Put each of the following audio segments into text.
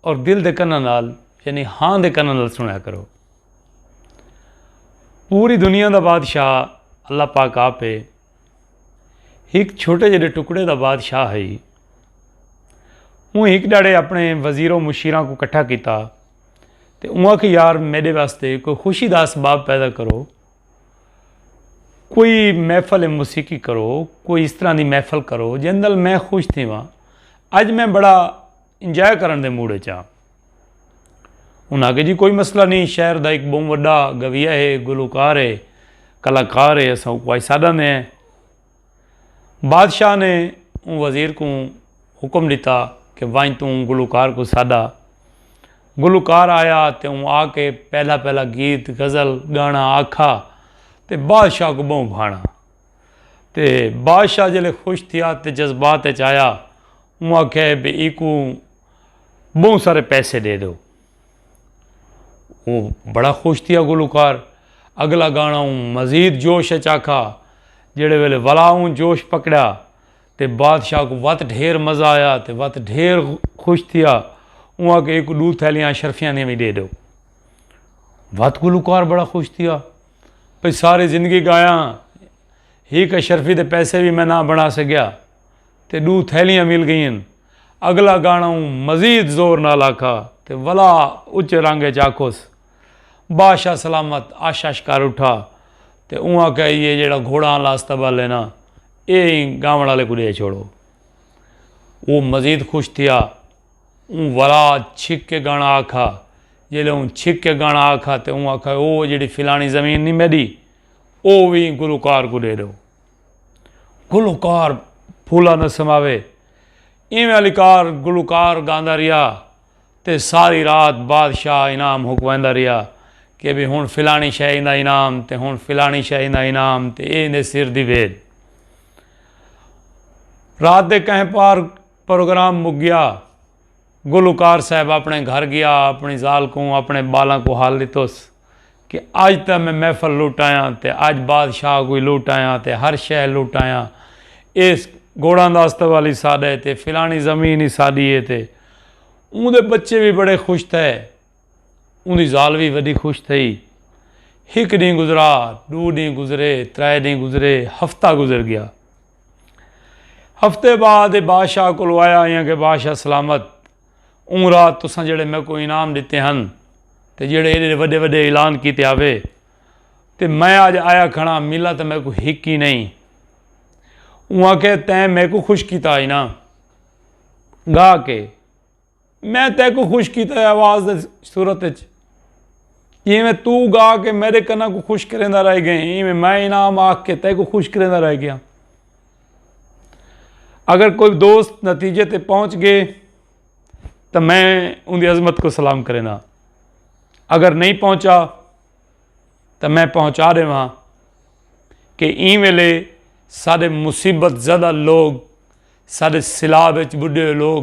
اور دل دے کناں نال یعنی ہاں دے کناں نال سنیا کرو پوری دنیا دا بادشاہ اللہ پاک آپ ہے ایک چھوٹے جڑے ٹکڑے دا بادشاہ ہے وہ ایک ڈاڑے اپنے وزیر و مشیرہ کو کٹھا کیتا تے انہاں کہ یار میرے واسطے کوئی خوشی دا اسباب پیدا کرو کوئی محفل موسیقی کرو کوئی اس طرح دی محفل کرو جن دل میں خوش تھی وہاں اج میں بڑا انجوائے کرن دے موڈ اچ ہاں۔ انہاں آکھیا جی کوئی مسئلہ نی شہر دا ہک بہوں وڈا گویہ ہے گلوکار ہے کلاکار ہے اساں اوکوں آئی ساڈا نے ہیں۔ بادشاہ نے اوں وزیر کوں حکم ڈتا کہ ونج توں اوں گلوکار کوں ساڈا۔ گلوکار آیا تے اوں آ کے پہلا پہلا گیت غزل گانا آکھا تے بادشاہ کوں بہوں بھانڑا۔ تے بادشاہ جلے خوش تھیا تے جذبات اچ آیا اوں آکھیا ہے بے ایکوں بہوں سارے پیسے دے دو وہ بڑا خوش تھیا گلوکار اگلا گانا اوں مزید جوش اچ آکھا جڑے ویلے ولا اوں جوش پکڑیا تے بادشاہ کو وت ڈھیر مزہ آیا تے وت ڈھیر خوش تھیا اوں آکھیا ایکوں دو تھیلیاں اشرفیاں دیاں وی دے دو وت گلوکار بڑا خوش تھیا۔ پئی ساری زندگی گایا ہاں ہیک اشرفی دے پیسے وی میں نہ بنا سگیا تے ڈو تھیلیاں مل گئین اگلا گانا اوں مزید زور نال آکھا تے ولا اچے رنگ اچ آکھوس باشا سلامت اش اش کر اٹھا تے اوں آکھیا ایہ جیڑھا گھوڑاں آلا استبل ہے نا ایہ ایں گاون آلے کوں ڈے چھوڑو او مزید خوش تھیا۔ اوں ورا چھک کے گانا آکھا۔ جیلے اوں چھک کے گانا آکھا تے اوں آکھا او جیڑھی فلانی زمین نی میڈی او وی گلوکار کوں ڈے ڈو۔ گلوکار پھولا نسم آوے۔ ایویں آلی کار گلوکار گاندا ریا تے ساری رات بادشاہ انعام حکویندا ریا کے بھئی ہن فلانی شے ایندا انعام تے ہن فلانی شے ایندا انعام تے ایندے سر دی وید۔ رات دے کہیں پار۔ پروگرام مک گیا۔ گلوکار صاحب اپنڑے گھر گیا اپنڑی ذال کوں اپنڑے بالاں کوں حال ڈتوس کہ اج تاں میں محفل لٹ آیاں تے اج بادشاہ کوں وی لٹ آیاں تے ہر شے لٹ آیاں ایس گھوڑاں دا استبل ہی ساڈا ہے تے فلانی زمین ہی ساڈی ہے تے اوندے بچے وی بڑے خوش تھئے۔ اوندی ذال وی وڈی خوش تھئی۔ ہک ڈینہہ گزرا، ڈو ڈینہہ گزرے، ترے ڈینہہ گزرے، ہفتہ گزر گیا۔ ہفتے بعد ایہ بادشاہ کولو آیا آئیاں کہ بادشاہ سلامت اوں رات تساں جیہڑے میکوں انعام ڈتے ہن تے جیہڑے ایڈے وڈے وڈے اعلان کیتے آوے تے میں اج آیا کھڑاں ملا تاں میکوں ہک ہی نئیں۔ اوں آکھیا تیں میکوں خوش کیتا ہئی نا گا کے۔ میں تیکوں خوش کیتا ہے آواز دی صورت وچ جیویں تو گا کے میڈے کناں کوں خوش کریندا رہ گئے ہیں ایویں میں انعام آکھ کے تیکوں خوش کریندا رہ گیا اگر کوئی دوست نتیجے تے پہنچ گئے تو میں ان دی عظمت کو سلام کریندا اگر نہیں پہنچا تو میں پہنچا دے وہاں کہ این ویلے سارے مصیبت زدہ لوگ سارے سلاب وچ بڈھے لوگ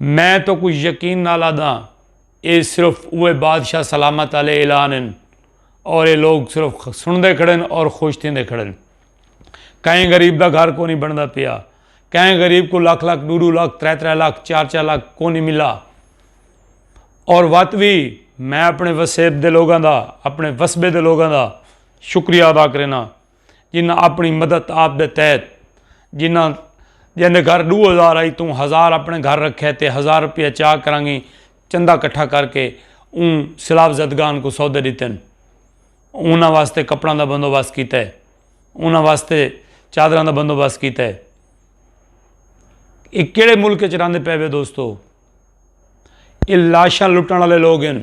میں تہاکوں یقین نال آہداں ایہ صرف اوہے بادشاہ سلامت آلے اعلان ہن اور ایہ لوگ صرف سنڑدے کھڑن اور خوش تھیندے کھڑن۔ کہیں غریب دا گھر کونی بنڑدا پیا۔ کہیں غریب کوں لکھ لکھ، ڈو ڈو لکھ، ترے ترے لکھ، چار چار لکھ کونی ملا۔ اور وت وی میں اپنے وسیب دے لوگاں دا، اپنے وسبے دے لوگاں دا شکریہ ادا کرینداں۔ جنہاں اپنڑی مدت آپ دے تحت جنہاں جیندے گھر ڈو ہزار آئی توں ہزار اپنڑے گھر رکھے تے ہزار روپیہ چاہ کرانگی چندہ کٹھا کر کے اوں سیلاب زدگان کوں سودے ڈتن۔ انہاں واسطے کپڑاں دا بندوبست کیتا ہے۔ انہاں واسطے چادراں دا بندوبست کیتا ہے۔ ایہ کیڑے ملک وچ رہندے پئے وے دوستو۔ ایہ لاشاں لٹنڑ والے لوگ ہن۔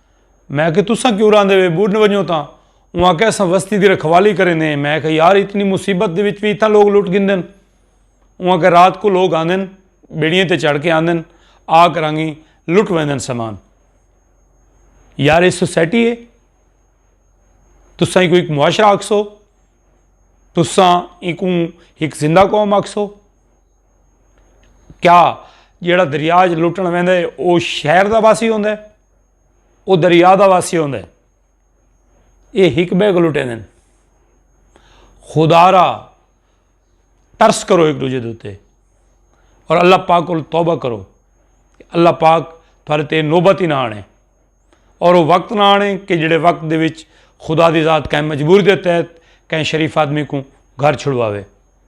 میں آکھیا تساں کیوں راہندے وے بڈ ونجو تاں اوں آکھیا اساں وستی دی رکھوالی کریندے ہیں میں آکھیا یار اتنی مصیبت دے وچ وی اتھاں لوگ لٹ گھندے ہن اوں آکھیا رات کو لوگ آندے ہن بیڑیاں تے چڑھ کے آندے ہن آ کرانگی لٹ ویندے ہن سامان یار اے سوسائٹی ہے تساں ایکوں ایک معاشرہ آکھسو تساں ایکوں ایک زندہ قوم آکھسو کیا جیڑا دریا وچ لٹن ویندے او شہر دا واسی ہوندے او دریا دا واسی ہوندے اے حکمے کو لٹے دین خدارا ترس کرو ایک دوجے دوتے اور اللہ پاک کو توبہ کرو اللہ پاک تھارے تے نوبت ہی نہ آنے اور وہ وقت نہ آنے کہ جڑے وقت دے وچ خدا دی ذات کہیں مجبور دے تحت کہیں شریف آدمی کو گھر چھڑواوے